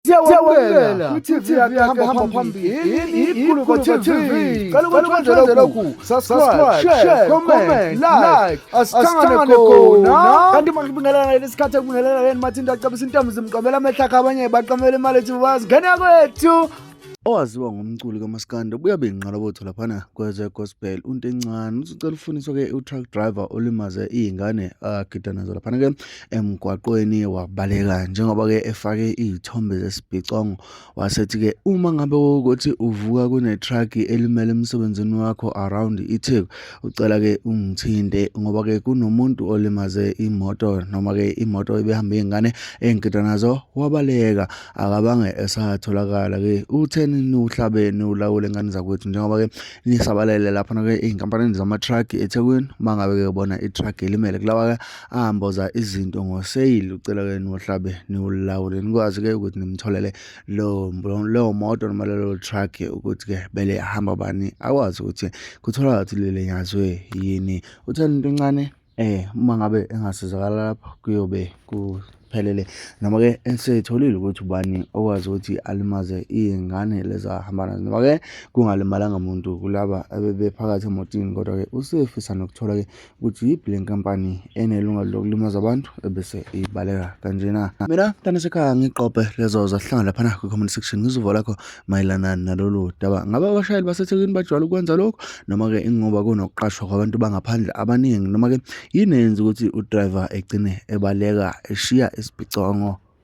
siyawamukela kwi-tv yakahamba phambili ikhuluko tv cela ukuthi wenzele lokhu subscribe share comment like asithangane khona kanti manje kubingelana leli sikhathi ekubingelana leni mathinto acebisa intombi zimqomela amehla akhe abanye baqamela imali ethi bazi ngena kwethu owaziwa ngomculi kamaskandi obuye abe yinqalabotho laphana kwezegospel untencane uthi ucela ufuniswa-ke u-truck driver olimaze iy'ngane agida nazo laphana-ke emgwaqweni wabaleka njengoba-ke efake iy'thombe zesibhicongo wasethi-ke uma ngabe ukuthi uvuka kunethragi elimele emsebenzini wakho around itheku ucela-ke ungithinte ngoba-ke kunomuntu olimaze imoto noma-ke imoto ebehamba iy'ngane engigida nazo wabaleka akabange esatholakala-ke utheni niwuhlabe niwulawule ngane zakwethu njengoba-ke nisabalele laphana-ke ey'nkampanini zamatragi ethekwini uma ngabe-ke ubona ithragi elimele kulawa-ke amboza izinto ngoseyili ucela ke niwohlabe niwulawule nikwazi ke ukuthi nimtholele leyo moto noma lelo truck ukuthi ke bele hamba bani akwazi ukuthi kutholakala ukuthi lelenyazwe yini uthanda into encane eh uma ngabe engasizakala lapho kuyobe ku phelele noma ke eseyitholile ukuthi ubani okwazi ukuthi alimaze iy'ngane lezi ahamba nazo noma ke kungalimalanga muntu kulaba abebephakathi emotini kodwa ke usefisa nokuthola ke ukuthi yiphi le nkampani enelungelo lokulimaza abantu ebese ibaleka kanjena mina mntana sekhaya ngigqobhe lezo zahlanga laphana kwi-comment section ngizuvo lakho mayelana nalolu daba. Ngabe abashayeli baseThekwini bajwayele ukwenza lokho noma-ke ingoba kunokuqashwa kwabantu bangaphandle abaningi noma-ke yini eyenza ukuthi udriver egcine ebaleka eshiya isiphicwango?